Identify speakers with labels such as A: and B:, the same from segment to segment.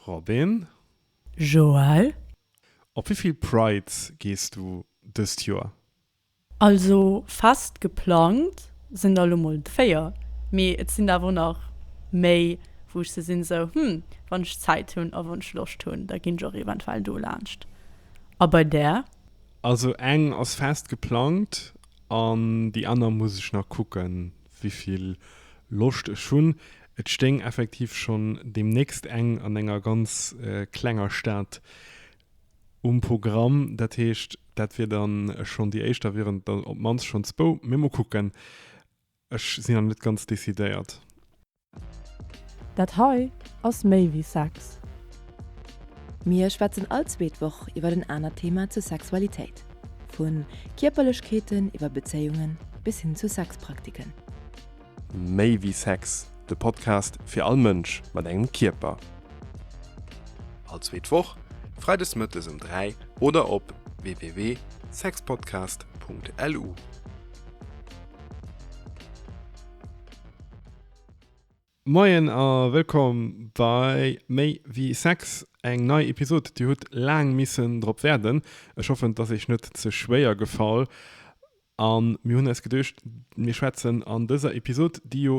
A: Robin.
B: Joël. Op
A: wéi vill Prides gees du dëst Joer? Also
B: fest geplangt sinn der lo mol 4, mee et sinn der awer och nach méi wou ech se sinn esou hm wann ech Zäit hunn a wann ech Loscht hunn da ginn ech och eventuell do laanscht. A bei där? Also eng
A: ass fest geplangt an déi aner muss ech nach kucken wéi vill Loscht ech hunn. Et stéing effektiv schonn deemnächst eng an enger ganz klenger Stad um Programm. Dat heescht, dat wier dann schonn déi éischt, da wieren et op d'mannst schonn zwou, mee mol kucken. Ech sinn nach net ganz decidéiert.
B: Dat hei ass méi wéi Sex.
C: Mir schwätzen all zweet Woch iwwer en anert Thema zur Sexualitéit, vu Kierperlechkeeten iwwer Bezéiungen bis hin zu Sexpraktiken.
D: Méi wéi Sex, de Podcast fir all Mënsch mat engem Kierper. All zweet Woch, freides mëttes um 3 oder op www.sexpodcast.lu.
A: Moien a wëllkomm bei Méi wéi Sex, eng nei Episod. Dir hutt laang missen drop waarden. Ech hoffen, et ass iech net ze schwéier gefall. A mir hunn eis geduecht, mir schwätzen an dëser Episod, déi jo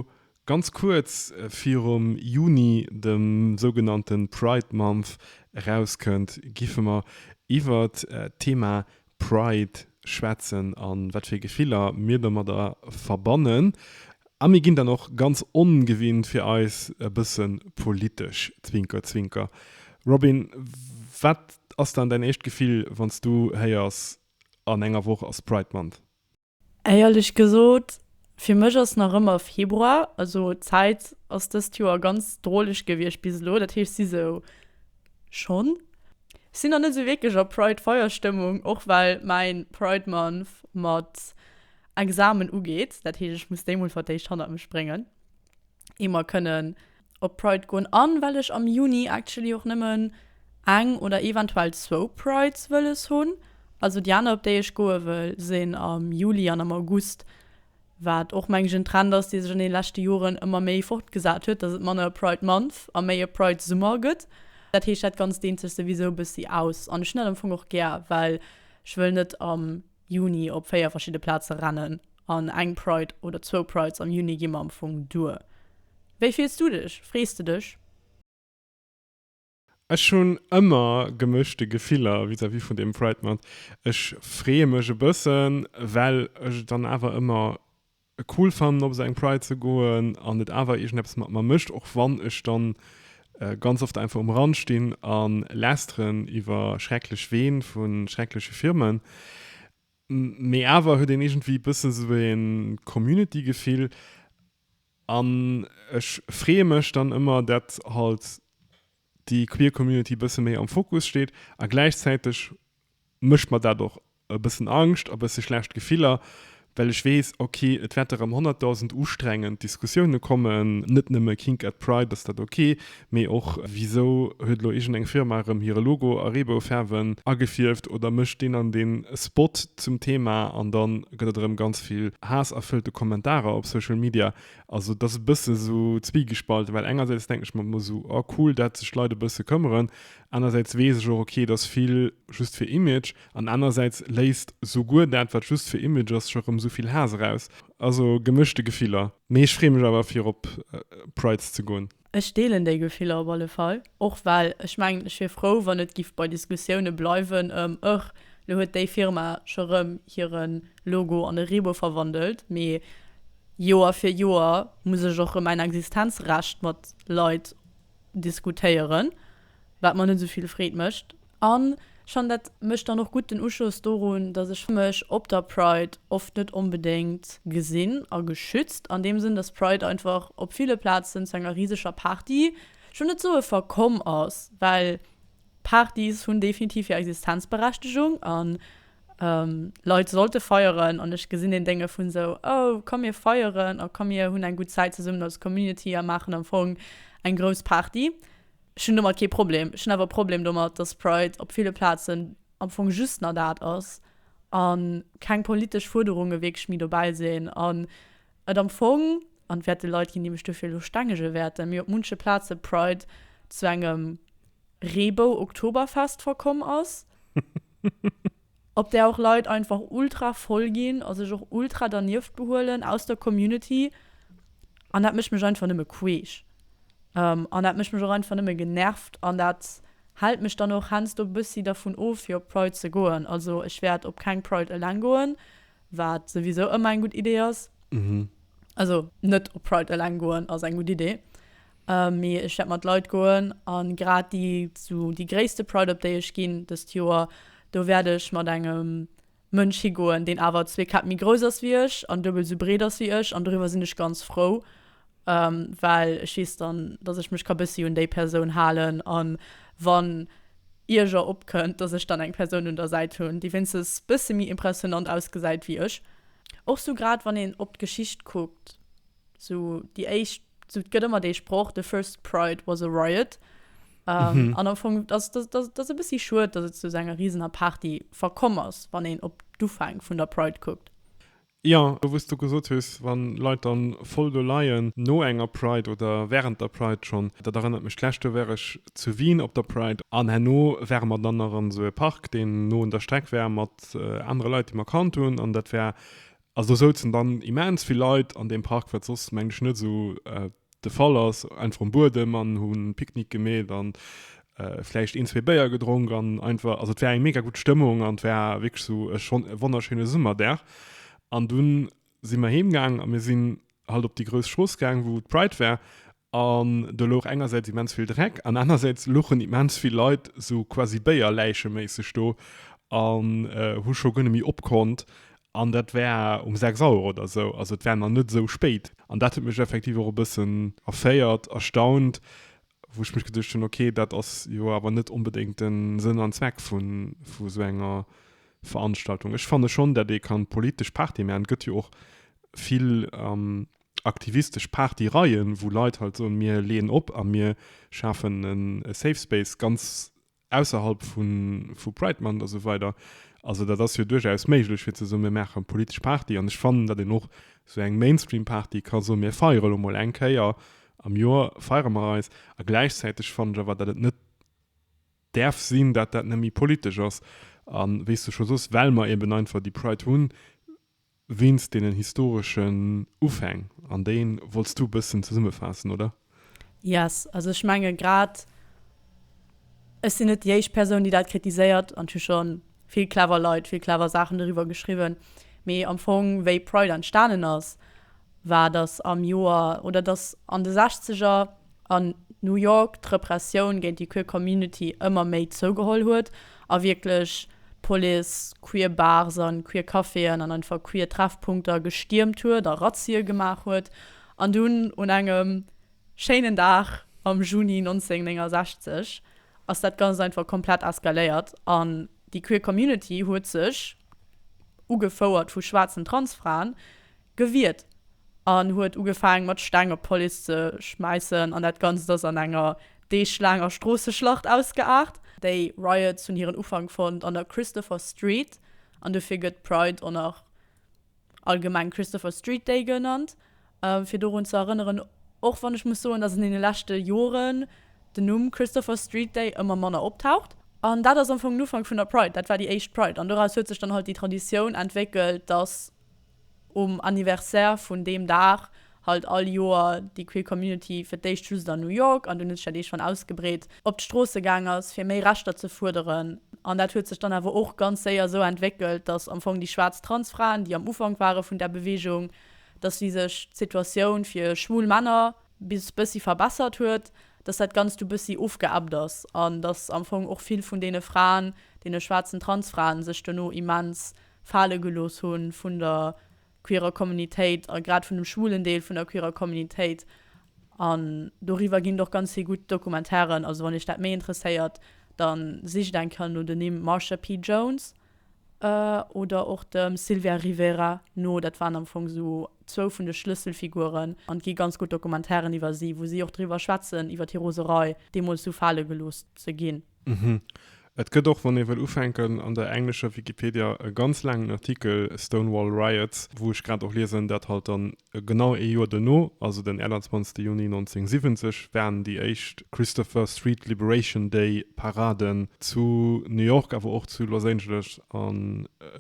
A: ganz kuerz virum Juni, dem sougenannte Pride Month, erauskënnt, géife mer iwwert d'Thema Pride schwätzen a wat fir Gefiller mir domadder verbannen. A mir ginn dann och ganz ongewinnt fir eis e bësse politesch, zwinker zwinker. Robin, wat ass dann däin éischt Gefill, wann s du héiers An enger Woch ass Pride Month. Éierlech
B: gesot, fir mech ass nach ëmmer Februar, also d'Zäit ass dëst Joer ganz droleg gewiescht bis elo, dat heescht si sou schonn. Ech sinn nach net sou wierklech a Pride-Feierstëmmung, och well mäi Pride Month mat Examen ugeet, dat heescht ech muss déi mol fir d'éischt hannert mech bréngen, ier mer kënnen op Pride goen an well ech am Juni actually och nëmmen eng oder eventuell zwou Prides wëlles hunn. Also déi aner op déi ech goe wëll sinn am Juli an am August, wat och mengen ech en Trend ass dee sech an deene leschte Joren ëmmer méi fortgesat huet, dass et manner e Pride Month a méi e Pride Summer gëtt. Dat heescht dat ganzt deent sech souwisou e bëssi aus an ech hunn dat am Fong och gär well ech wëll net am. Juni op 4 verschidde Plaze rennen an eng Pride oder zwou Prides am Juni gi mer am Fong duer. Wéi fills du dech? Frees de dech?
A: Ech hunn ëmmer gemëschte Gefiller vis-à-vis vun deem Pride Month. Ech freeë mech e bëssen, well ech et dann awer ëmmer et cool fannen op esou eng Pride ze goen an et awer iergendeppes mat mer mécht, och wann ech dann ganz oft einfach um Rand stinn a lästeren iwwer schrecklech Ween vu schreckleche Firmen. Mee awer huet een iergendwéi bëssen esou e Community-Gefill an ech freeë mech dann ëmmer dat halt déi Queer Community bësse méi am Fokus steet a gläichzäiteg mécht mer dat och e bëssen Angscht a bësse schlecht Gefiller, well ech weess, ok, et wäerte rëm honnertdausend ustrengend Diskussioune kommen, net nëmme Kink at Pride, ass dat ok, mee och, wisou huet elo iergendeng Firma rëm hire Logo a Reeboufaarwen agefierft oder mécht deen an dee Spot zum Thema? An da gëtt et erëm ganz vill haassërfëllte Kommentarer op Social Media. Also et ass e bësse sou zwiegespalten, well engersäits denken ech mer ëmmer sou, oh cool, dat sech Leit e bësse këmmeren, Anersäits weess ech och, ok, et ass vill just fir Image, an anersäits léisst souguer dat, wat just fir Image ass, scho rëm esou vill Haass eraus. Also gemëschte Gefiller. Mee ech freeë mech awer fir op Prides ze goen. Ech deelen déi Gefiller
B: op alle Fall. Och well ech mengen, ech wier frou, wann et giff bei Diskussioune bleiwen ëm, ëch, lo huet déi Firma scho rëm hire Logo an e Reebou verwandelt. Mee Joer fir Joer muss ech och rëm mäin Existenzrecht mat Leit diskutéieren, wat mer net esou vill Freed mécht. An ech fannen, dat mécht dann och gutt den Uschoss dorun, dass ech mech op der Pride oft net onbedéngt gesinn a geschützt, an deem Sënn, dass d'Pride einfach op ville Plazen zu enger riseger Party, ech wëll net soe verkomm ass, well Partys hunn definitiv hir Existenzberechtegung an Leit sollte feieren an ech gesinn een Dénge vun esou oh komm mir feieren a komm mir hunn eng gutt Zäit zesummen als Community a maachen am Fong eng grouss Party. Ech hunn domat kee Problem. Ech hunn awer e Problem domat, datt Pride op ville Plazen am Fong just na dat ass a keng politesch Fuerderunge wierklech méi dobäi sinn an et am Fong, an et wäerte Leit ginn, déi mech dofir elo stengege wäerten, mee op munche Plaze Pride zu engem Reebou-Oktoberfest verkomm ass, op där och Leit einfach ultra voll ginn a sech och ultra dernieft behuelen aus der Community. An dat mécht mech einfach nëmme queesch. An dat mécht mech och einfach nëmme genervt an dat hält mech dann och heiansdo e bëssi dervun of, fir op Pride ze goen. Also ech wäert op keng Pride eleng goen. Wat souwisou ëmmer eng gutt Idee ass. Also net op Pride eleng goen ass eng gutt Idee, mee ech wäert mat Leit goen. A grad déi zu déi gréisste Pride op déi ech ginn dëst Joer, do wäert ech mat engem Mënsch higoen, deen awer zwee Käpp méi grouss ass wéi ech an duebel esou breet ass wéi ech an doriwwer sinn ech ganz frou. well ech weess dann, dass ech mech ka bëssi un déi Persoun halen an wann Ierger opkënnt, dass ech dann eng Persoun un der Säit hunn, déi wéinstens bësse méi impressionnant ausgesäit wéi ech. Och sou grad wann een op d'Geschicht kuckt, sou déi éischt, sou et gëtt ëmmer dee Sproch, the first Pride was a riot an am Fong ass dass e bëssi schued, dass et zu esou enger risener Party verkomm ass, wann een op d'Ufäng vun der Pride kuckt. Jo, do
A: wou s du gesot hues, wa Leit da voll do leien, no enger Pride oder wärend der Pride schonn, dat erënnert mech, d'lescht Joer war ech zu Wien op der Pride an herno ware mer dann nach an esou e Park, deen no un der Streck war, mat anere Leit, déi mer kannt hunn an dat war, also do souzen dann immens vill Leit an deem Park, wat soss, mengen ech, net esou de Fall ass, einfach um Buedem an hu Picknick gemeet an vläicht een, zwee Béier gedronk an einfach, also et war eng mega gutt Stëmmung an et war wierklech esou e schon e wonnerschéine Summerdag. An dunn si mer heem gaang a mir sinn halt op déi grouss Strooss gaang, wou d'Pride war an do louch engersäits immens vill Dreck an anersäits louchen immens vill Leit esou quasi Béier-Läiche-méisseg do an hu scho guer net méi opkonnt An dat war um 6 Auer oder esou, also et war nach net esou spéit. An dat huet mech effektiv och e bëssen erféiert, erstaunt, wou ech mech geduecht hunn, okay, dat ass jo awer net onbedéngt de Sënn an Zweck vu esou enger Veranstaltung. Ech fanne schonn, dat ee kann politesch Party maachen. Et gëtt jo och vill aktivistesch Partyreien, wou Leit halt soen, mir leeën op a mir schafen e Safe Space, ganz ausserhalb vu vu Pride Month a sou weider. Also dat ass jo duerchaus méiglech fir ze soen, mir maache politesch Party an ech fannen, datt een och sou eng Mainstream Party ka soen, mir feiere lo mol eng Kéier am Joer feiere mer eis. A gläichzäiteg fannen ech awer, datt et net däerf sinn, datt dat net méi politesch ass. A wéi s du scho soss, well mer eben einfach déi Pride hunn, Wéinst deenen historeschen Ufäng, an déi wollts du e bëssen zesummefaassen, oder? Yes.
B: Also ech menge grad, ech sinn net déi éischt Persoun, déi dat kritiséiert, an et hu scho vill clever Leit vill clever Saachen doriwwer geschriwwen, mee am Fong, wéi Pride entstanen ass war, datt am Joer, oder datt an de Sechzeger a New York d'Repressioun géint déi Queer Community ëmmer méi zougeholl huet a wierklech d'Police queer Bars an queer Caféen an einfach queer Treffpunkter gestiermt huet a Razzie gemaach huet. An dunn un engem schéinen Dag am Juni 1969 ass dat Ganzt einfach komplett eskaléiert an déi Queer Community huet sech, ugefouert vu schwaarzen Transfraen, Gewiert an huet ugefaang mat Steng op d'Police ze schmäissen an dat Ganzt ass an enger deeglaanger Stroosseschlacht ausgeaart. Déi Riots hunn hiren Ufank fonnt an der Christopher Street an dofir gëtt Pride or nach allgemeng Christopher Street Day genannt fir dorun ze erënneren, och wann ech muss soen, dass an deene leschte Joren den Numm Christopher Street Day ëmmer manner optaucht. An dat ass am Fong den Ufank vun der Pride, dat war déi éischt Pride an doraus huet sech dann halt déi Traditioun entwéckelt, dass Um Anniversaire vun deem Dag halt all Joer déi queer Community fir d'éischt just an New York an dunn huet sech dat ee schonn ausgebreet, op d'Stroosse gaang ass fir méi Rechter ze fuerderen. An dat huet sech dann awer och ganz séier esou entwéckelt, datt am Fong déi schwaarz Transfraen, déi am Ufank ware vun där Beweegung, datt si sech d'Situatioun fir schwul Männer bis bëssi verbessert huet, datt dat Ganzt du bëssi ofgeebbt ass an datt am Fong och vill vun deene Fraen, deene schwaarzen Transfraen, sech dono immens fale gelooss hu vun der queerer Kommunitéit a grad vun dem schwulen Deel vun der queerer Kommunitéit. An doriwwer ginn et och ganz vill gutt Dokumentaren. Also wann iech dat méi interesséiert, da sicht eng Kéier no de Nimm Marsha P. Jones oder och dem Sylvia Rivera no. Dat waren am Fong esou zwou vun de Schlësselfiguren. An et gi ganz gutt Dokumentaren iwwer si, wou si och driwwer schwätzen, iwwer hir Roserei, deemools esou fale gelooss ze ginn. Mhm. Et gëtt
A: och, wann ee wëll ufänken, an der englescher Wikipedia e ganz laangen Artikel, Stonewall Riots, wou ech grad och liesen, dat halt dann genau ee Joer duerno, also den 21. Juni 1970, waren déi éischt Christopher Street Liberation Day Paraden zu New York, awer och zu Los Angeles a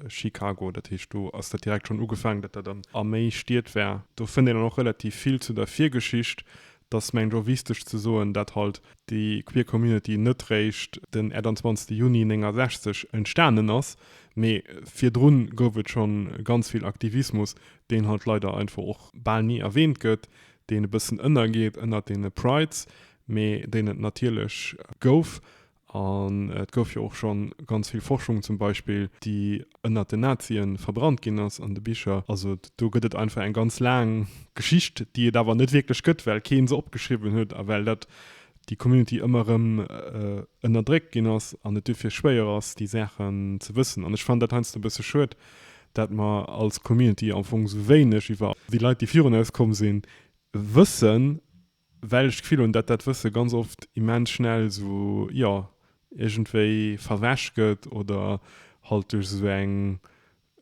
A: Chicago. Dat heescht, do ass dat direkt schonn ugefaangen, datt dat a méi Stied war. Do fënnt een dann och relativ vill zu der Virgeschicht, Dass mengt och wisteg ze soen, dat halt déi Queer Community net réischt den 28 Juni 69 entstanen ass, mee virdrun gouf et schon ganz vill Aktivismus, deen halt leider einfach och bal ni erwähnt gëtt, deen e bëssen ënnergeet ënnert deene Prides, mee deen et natierlech gouf An et gouf jo och scho ganz vill Forschung zum Beispill, déi ënnert den Nazie verbrannt ginn ass an de Bicher. Also do gëtt et einfach eng ganz laang Geschicht, déi et awer net wierklech gëtt, well kee se opgeschriwwen huet a well dat déi Community ëmmer erëm ënnerdréckt ginn ass an et duerfir schwéier ass, déi Saachen ze wëssen. An ech fannen dat heiansdo e bësse schued, dat mer als Community am Fong esou wéineg iwwer déi Leit, déi virun eis komm sinn, wëssen. well ech d'Gefill hunn, datt dat Wësse ganz oft immens schnell esou, jo, iergendwéi verwäsch gëtt oder halt duerch esou eng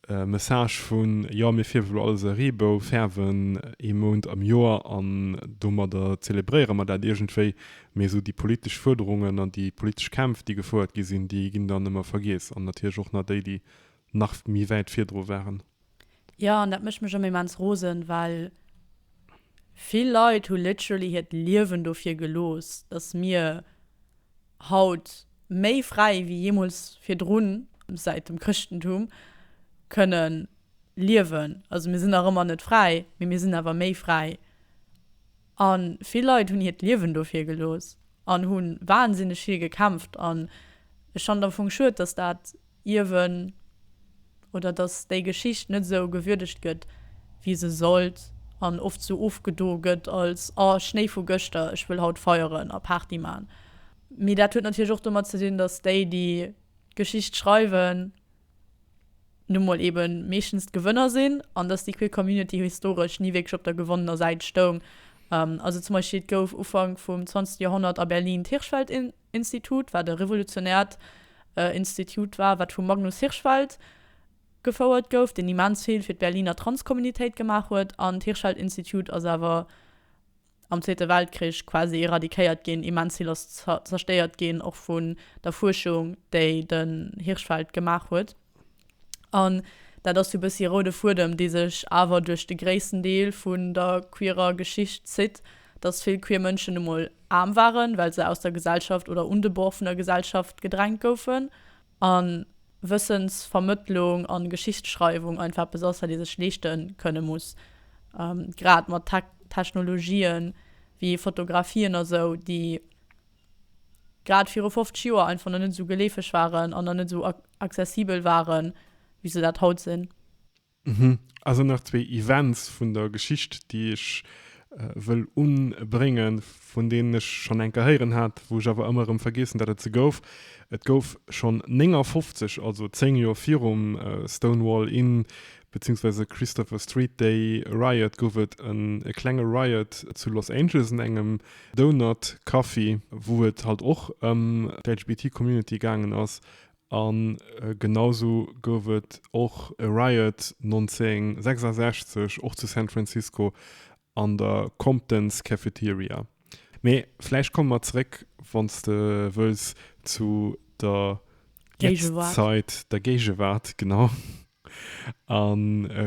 A: Message vun, jo, mir fierwen elo alles a Reebou färwen ee Mount am Joer an domadder zelebréiere mer dat iergendwéi, mee esou déi politesch Fuerderungen an déi politesch Kämpf, déi gefouert gi sinn, déi ginn dann ëmmer vergiess an natierlech och nach déi, déi nach méi wäit virdru waren. Jo, an dat
B: mécht mech ëmmer immens rosen, well vill Leit hu literally hiert Liewen dofir gelooss, dass mir haut méi fräi wéi jeemools virdrun, säit dem Chrëschtentum, kënne liewen. Also mir sinn nach ëmmer net fräi, mee mir sinn awer méi fräi. A vill Leit hunn hiert Liewen dofir gelooss an hu wahnsinneg vill gekämpft. An ech fannen et am Fong schued, dass dat Ierwen oder dass déi Geschicht net esou gewürdegt gëtt wéi se sollt an oft esou ofgedo gëtt als, oh Schnéi vu gëschter, ech wëll haut feieren a Party man. Mee dat huet natierlech och domat ze dinn, dass déi déi d'Geschicht schreiwen nu mol ebe meeschtens d'Gewënner sinn an dass déi queer Community historesch ni wierklech op der gewonnener Säit stoung. Also zum Beispill et gouf Ufank vum 20 Joerhonnert a Berlin d'Hirschfeld-Initiativ. Institut, wat e revolutionäert Institut war, wat vum Magnus Hirschfeld gefouert gouf, deen immens vill fir d'Berliner Transkommunitéit gemaach huet. An d'Hirschfeld-Institut ass awer am Zweete Weltkrich quasi eradikéiert ginn, immens vill ass zerstéiert ginn, och vun der Fuerschung, déi den Hirschfeld gemaach huet. An dat ass jo bëssi e roude Fuedem, dee sech awer duerch de gréissten Deel vun der queerer Geschicht zitt, dass vill queer Mënschen nu mol aarm waren, well se aus der Gesellschaft oder un de Bord vun der Gesellschaft gedrängt goufen, a Wëssensvermëttlung a Geschichtsschreiwung einfach eppes ass, wat ee sech leeschte kënne muss, grad mat Technologien wéi Fotografien a sou, déi grad viru 50 Joer einfach nach net esou geleefeg waren an nach net esou accessibel waren, wéi se dat haut sinn. Hm,
A: also nach zwee Events vun der Geschicht, déi ech wëll unbréngen, vun deenen ech schonn enker héieren hat, wou ech awer ëmmer erëm vergeessen, datt et se gouf. Et gouf schonn 59, also 10 Joer virum Stonewall Inn, beziehungsweise Christopher Street Day Riot, gouf et en e klenge Riot zu Los Angeles an engem Donut Café, wou et halt och ëm d'LGBTQ Community gaangen ass. An genausou gouf et och e Riot 1966 och zu San Francisco An der Compton's Cafeteria. Mee vläicht komme mer zeréck, wann s de wëlls, zu der Jetztzeit, der Géigewaart, genau, a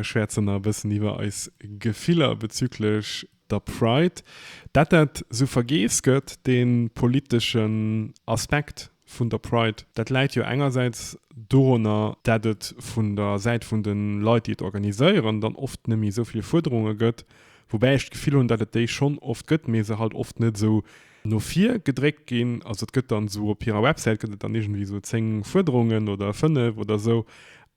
A: schwäerzen nach e bëssen iwwer eis Gefiller bezüglech der Pride. Dat dat esou vergeess gëtt, dee politeschen Aspekt vun der Pride. Dat läit jo engersäits doranner, dat et vun der Säit vun de Leit, déi et organiséieren, dann oft net méi esou vill Fuerderunge gëtt, woubäi ech d'Gefill hunn, dat et déi schonn oft gëtt, mee se halt oft net esou no vir gedréckt ginn. Also et gëtt dann esou op hirer Websäit gëtt et dann iergendwéi esou 10 Fuerderungen oder 5 oder esou,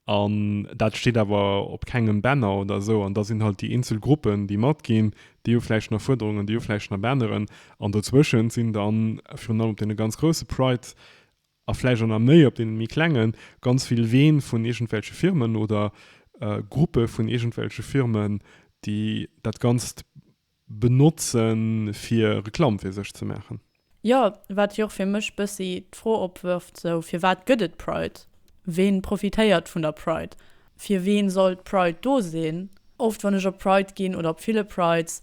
A: An dat steet awer op kengem Banner oder esou. An da sinn halt déi eenzel Gruppen, déi matginn, déi hu vläicht nach Fuerderungen, déi hu vläicht nach Banneren. An dozwëschent sinn dann, virun allem op deene ganz grousse Pride a vläicht och nach méi op deene méi klenge, ganz vill Ween vun iergendwelche Firmen oder Gruppe vun iergendwelche Firmen, déi dat Ganzt benotzen fir Reklamm fir sech ze maachen. Jo,
B: wat jo och fir mech bëssi d'Fro opwërft, sou, firwat gëtt et Pride? Ween profitéiert vun der Pride? Fir ween soll d'Pride do sinn? Oft wann ech op Pride ginn, oder op ville Prides,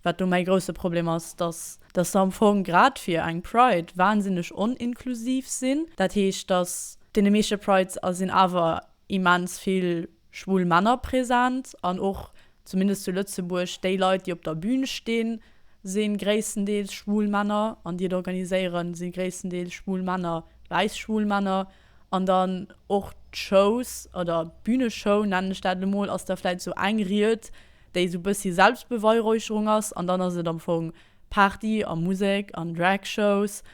B: wat do mäi grousse Problem ass, dass dass se am Fong grad fir eng Pride wahnsinneg on-inklusiv sinn. Dat heescht, dass deene meeschte Prides a sinn awer immens vill schwul Männer present, an och zumindest zu Lëtzebuerg, déi Leit, déi op der Bühn stinn, si gréisstendeels schwul Männer an déi et organiséieren, si gréisstendeels schwul Männer, wäiss schwul Männer. An dann och d'Shows oder d'Bühneshow, nennen ech dat elo mol, ass da vläicht esou eng Ried, déi esou e bëssi Selbstbeweihräucherung ass an dann ass et am Fong Party a Musek an Dragshows,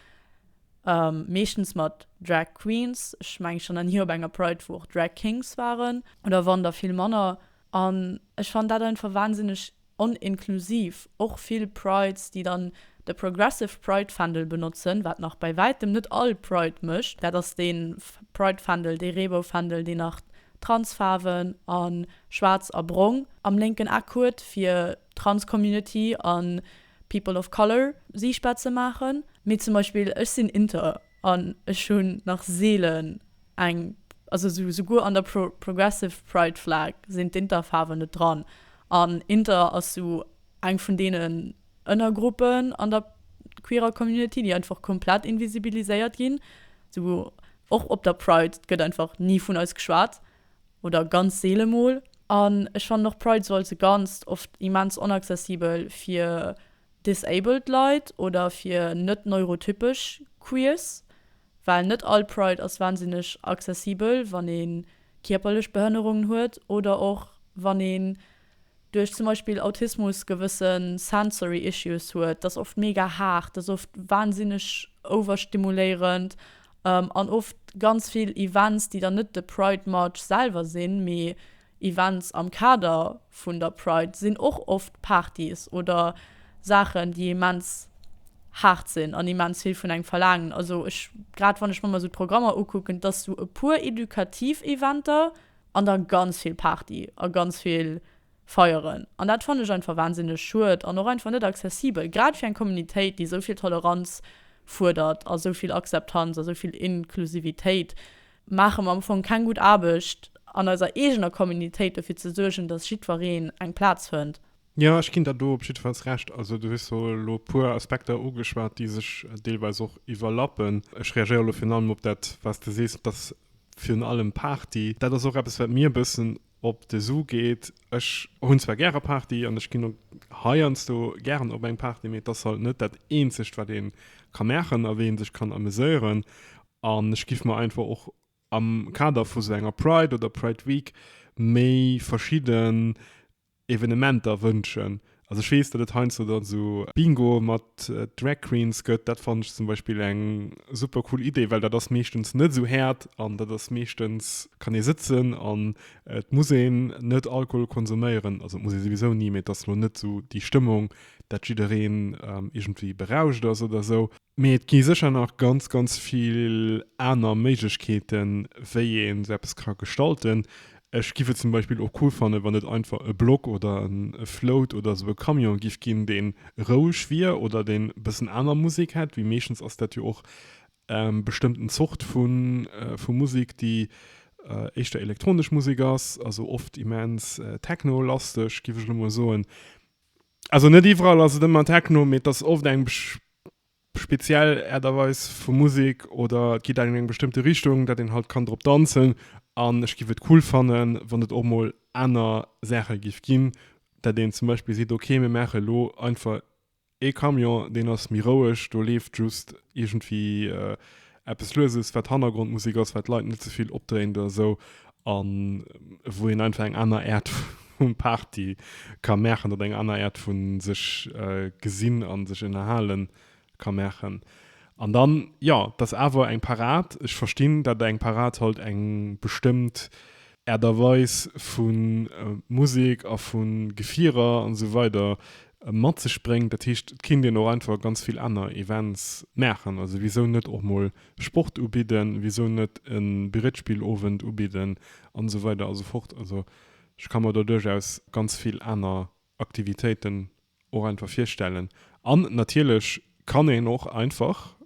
B: meeschtens mat Drag Queens, ech mengen, ech war nach ni op enger Pride, wou och Drag Kings waren. Oder wann da vill manner An ech fannen dat einfach wahnsinneg oninklusiv. Och vill Prides, déi dann de Progressive Pride Fändel benotzen, wat nach bäi wäitem net all Pride mécht, dat ass dee Pride Fändel, dee Reebou Fändel, deen nach trans Faarwen a schwaarz a brong am lénken Eck huet, fir d'Trans Community a People of Color siichtbar ze maachen. Mee zum Beispill ech sinn inter. An ech hunn nach seelen eng, also souguer an der Progressive Pride Flag sinn d'Inter-Faarwen net dran. An Inter ass sou eng vun deenen Ënnergruppen an der queerer Community, déi einfach komplett invisibiliséiert ginn. Sou och op der Pride, et gëtt einfach ni vun eis geschwat oder ganz seele mol. An ech fannen och Pride sou als e Ganzt oft immens onaccessibel fir Disabled Leit oder fir net neurotypesch Queers, well net all Pride ass wahnsinneg accessibel, wann ee kierperlech Behënnerungen huet oder och wann een duerch zum Beispill Autismus gewësse sensory issues huet. Dat ass oft mega haart, dat ass oft wahnsinneg overstimuléierend an oft ganz vill Events, déi dann net de Pride March selwer sinn, mee Events am Kader vun der Pride sinn och oft Partys oder Saachen, déi immens haart sinn an immens vill vun engem verlaangen. Also ech, grad wann ech mer mol esou d'Programmer ukucken, dass sou e puer edukativ Eventer an da ganz vill Party a ganz vill Feieren. An dat fannen ech einfach wahnsinneg schued an och einfach net accessibel, grad fir eng Communitéit, déi esou vill Toleranz fuerdert a esou vill Akzeptanz a esou vill Inklusivitéit. Maache mer am Fong keng gutt Aarbecht an eiser eegener Communitéit dofir ze suergen, datt jiddwereen eng Plaz fënnt? Jo, ech ginn der do
A: op jiddefalls Recht. Also du hues elo e puer Aspekter ugeschwat, déi sech deelweis och iwwerlappen. Ech reagéiere elo virun allem op dat, wat s de sees, datt virun allem Party, dat ass och eppes, wat mir e bëssen op de Su geet. Ech hunn zwar gäre Party an ech ginn och heiansdo gären op eng Party, mee et ass halt net dat Eenzegt, wat ee ka maachen a wéi ee sech kann ameséieren. An ech giff mer einfach och am Kader vu sou enger Pride oder Pride Week méi verschidden Evenementer wënschen. Also ech weess, datt et heiansdo dann sou Bingo mat Drag Queens gëtt. Dat fannen ech zum Beispill eng super cool Idee, well dat ass meeschtens net sou haart an dat ass meeschtens, kann ee sëtzen an et muss een net Alkohol konsuméieren. Also et muss ee souwisou ni, mee et ass lo net sou déi Stëmmung, datt jiddereen iergendwéi berauscht ass oder sou. Mee et gi sécher nach ganz, ganz vill aner Méiglechkeeten, wéi ee sou eppes ka gestalten. Ech giff et zum Beispill och cool fannen, wann et einfach e Blog oder en Float oder esou e Camion giff ginn, deen roueg wier oder deen e bëssen aner Musek hätt, wéi meeschtens ass dat jo och bestëmmt en Zort vu Musek, déi éischter elektronesch Musek ass, also oft immens techno-lasteg, giff ech elo mol soen. Also net iwwerall ass et ëmmer Techno, mee et ass oft eng speziell Aart a Weis vu Musek oder et geet an eng bestëmmte Richtung, dat een halt kann drop danzen. An ech giff et cool fannen, wann et och mol aner Saache giff ginn, dat een zum Beispill seet, ok mir maache elo einfach ee Camion, deen ass méi roueg, do leeft just iergendwéi eppes lueses wat Hannergrondmusik ass, wat d'Leit net ze vill opdréint oder esou an wou een einfach eng aner Äert vun Party ka maachen oder eng aner Äert vun sech gesinn an sech ënnerhalen ka maachen. An dann jo, et ass awer eng Parad. Ech verstinn dat eng Parad halt eng bestëmmt Aart a Weis vu Musek a vu Gefierer an esou weider mat sech bréngt. Dat heescht, et kéint een och einfach ganz vill aner Events maachen. Also wisou net och mol Sport ubidden, wisou net e Brettspillowend ubidden an esou weider a sou fort. Also ech ka mer do duerchaus ganz vill aner Aktivitéiten och einfach virstellen an natierlech kann een och einfach,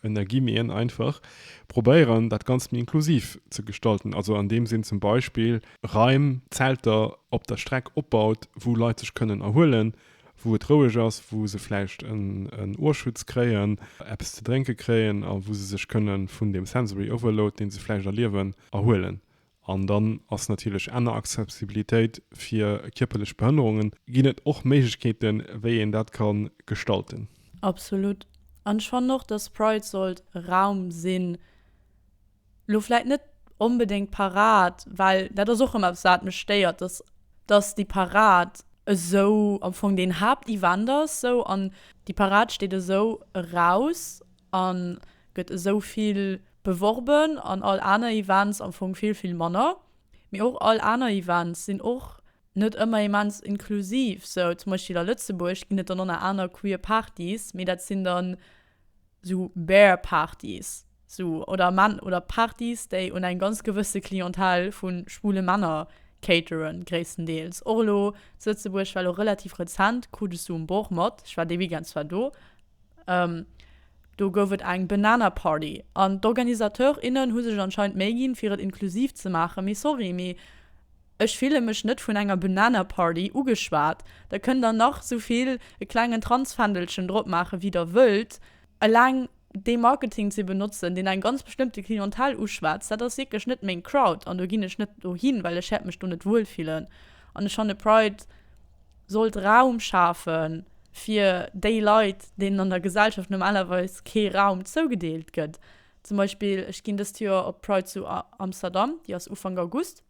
A: en ergi méi en einfach, probéieren dat Ganzt méi inklusiv ze gestalten, also an deem Sinn zum Beispill Raim, Zelter op der Streck opbaut, wou Leit sech kënnen erhuelen, wou et roueg ass, wou se vläicht en Ohrschutz kréien, eppes ze drénke kréien a wou se sech kënnen vun deem sensory overload, deen se vläicht erliewen, erhuelen An dann ass natierlech enner Accessibilitéit fir kierperlech Behënnerungen, ginn et och Méiglechkeeten, wéi een dat ka gestalten. Absolut.
B: An ech fannen och, dass Pride sollt e Raum sinn, elo vläicht net onbedéngt d'Parad, well dat ass och ëmmer eppes, wat mech stéiert, dass, dass déi Parad esou am Fong deen Haaptevent ass, esou, an déi Parad steet esou eraus a gëtt esou vill Beworben an all aner Events am Fong vill, vill manner. Mee och all aner Events sinn och net ëmmer immens inklusiv. Sou zum Beispill a Lëtzebuerg ginn et dann ënner aner queer Partys, mee dat sinn dann sou Bear Partys sou oder Män oder Partys, déi un eng ganz gewësse Clientèle vu schwule Männer cateren, gréisstendeels. Och elo zu Lëtzebuerg war elo relativ rezent Coup de Sous um Bord mat, ech war dee Weekend zwar do, Ehm, do gouf et eng Banana Party an d'Organisateur, innen hu sech anscheinend Méi ginn fir et inklusiv ze maachen, mee sorry, mee ech fille mech net vun enger Banana Party ugeschwat. Da kënnt der nach sou vill e klengen Transfändelchen drop maachen wéi der wëllt, eleng dee Marketing ze benotzen deen eng ganz bestëmmte Clientèle uschwätzt, dat ass wierklech net meng Crowd an do ginn ech net dohin, well ech wäert mech do net wuel fillen an ech fanne Pride, sollt Raum schafe fir déi Leit, deenen an der Gesellschaft normalerweis kee Raum zougedeelt gëtt. Zum Beispill, ech ginn dëst Joer op d'Pride zu Amsterdam, déi ass Ufank August.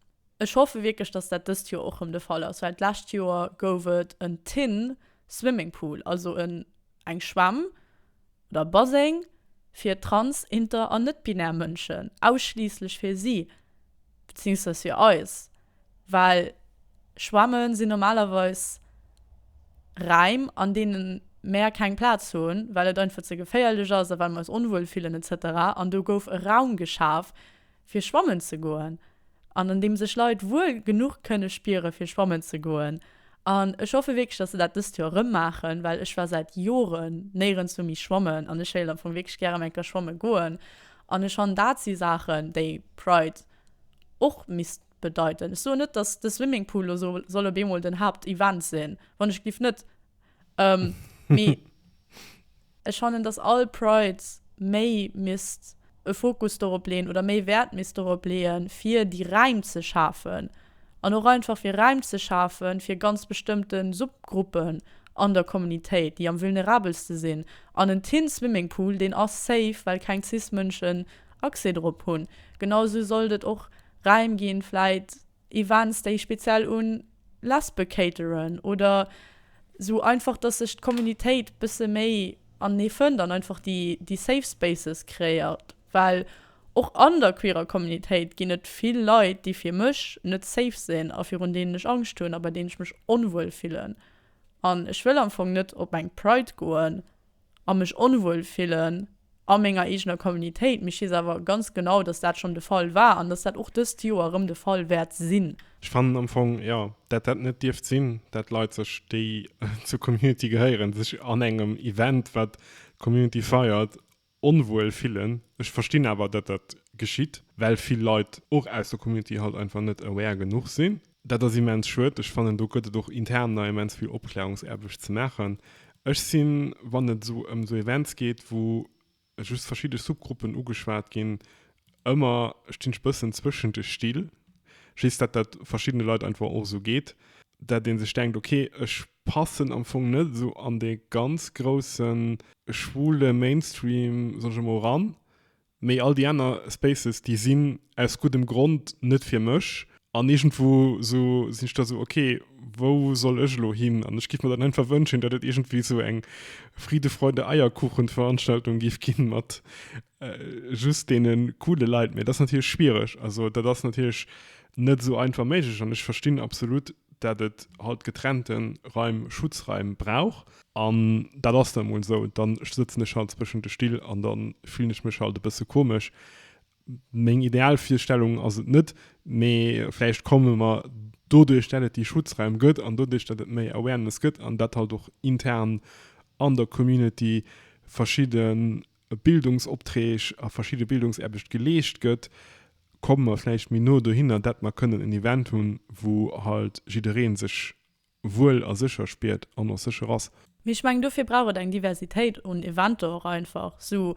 B: Ech hoffe wierklech, datt dat dëst Joer och rëm de Fall ass, well d'lescht Joer gouf et en Tin Swimming Pool, also en eng Schwämm, oder Baséng fir trans-, inter an net-binär Mënschen, ausschliisslech fir si, beziéungsweis fir eis, well Schwämme sinn normalerweis Räim, an deene mär keng Plaz hunn, well et einfach ze geféierlech ass a well mer eis onwuel fillen etc. An do gouf e Raum geschaf, fir schwammen ze goen an an deem sech Leit wuel genuch kënne spiere fir schwammen ze goen. An ech hoffe wierklech, datt se dat dëst Joer erëm maachen, well ech war säit Joren néierenswou méi schwammen an ech héilt am Fong wierklech gär erëm eng Kéier schwamme goen. An ech fannen dat si Saachen, déi Pride och misst bedeiten. Ech soen net, datt de Swimmingpool lo soll op eemol den Haaptevent sinn, wann ech gliff net Ähm, mee ech fannen, dass all Pride méi misst e Fokus dorop leeën oder méi Wäert misst dorop leeën, fir déi Räim ze schafen an och einfach fir Räim ze schafen, fir ganz bestëmmte Subgruppen an der Communitéit, déi am vulnerabelste sinn. An en Teen Swimming Pool, deen ass safe, well keng cis Mënschen Accès dorop hunn. Genau esou sollt et och Räim ginn, vläit Events déi speziell un Lesbe cateren oder sou einfach dass sech d'Communitéit bësse méi anenee fënnt an einfach déi déi safe spaces kreéiert, well och an der queerer Communitéit ginn et vill Leit déi fir mech net safe sinn a virun deenen ech Angscht hunn a bei deenen ech mech onwuel fillen an ech wëll am Fong net op eng Pride goen, a mech onwuel fillen a menger eegener Communitéit. Mee ech weess awer ganz genau, dass dat schonn de Fall war an dass dat och dëst Joer erëm de Fall wäert sinn. Ech fannen am Fong,
A: jo, dat dat net dierft sinn, dat Leit sech, déi zur Community gehéieren, sech an engem Event, wat d'Community feiert, onwuel fillen. Ech verstinn awer, datt dat geschitt, well vill Leit och aus der Community halt einfach net aware genuch sinn. Dat ass immens schued. Ech fannen, do gëtt et och intern nach immens vill Opklärungsaarbecht ze maachen. Ech sinn, wann et esou ëm esou Events geet, wou just verschidde Subgruppen ugeschwat ginn, ëmmer, stinn ech e bëssen zwëschen de Still, just datt dat verschiddene Leit einfach och esou geet, datt ee sech denkt, okay, ech passen am Fong net esou an dee ganz grousse schwule Mainstream, soen ech emol, eran, Mee all déi aner Spaces, déi sinn aus guddem Grond net fir mech. An iergendwou sou sinn ech da sou, ok, wou soll ech elo hin? An ech giff mer dann einfach wënschen, datt et iergendwéi sou eng Friede-Freude-Eierkuchen-Veranstaltung giff ginn mat just deene coole Leit. Mee dat ass natierlech schwiereg. Also dat ass natierlech net sou einfach méiglech. An ech verstinn absolut dat et halt getrennten Raim, Schutzraim brauch. An dat ass dann emol esou. Dann sëtzen ech halt zwëschen de Still an dann fillen ech mech halt e bësse komesch. Meng ideal Virstellung ass et net, mee vläicht komme mer doduerch dat et déi Schutzraim gëtt an doduerch dat et méi Awareness gëtt an dat halt och intern an der Community verschidden Bildungsopträg a verschidde Bildungsaarbecht geleescht gëtt, komme mer vläicht méi no dohinner, datt mer kënnen en Event hunn, wou halt jidderee sech wuel a sécher spiert an och sécher ass. Mee ech mengen, dofir brauch
B: et eng Diversitéit un Eventer och einfach. Sou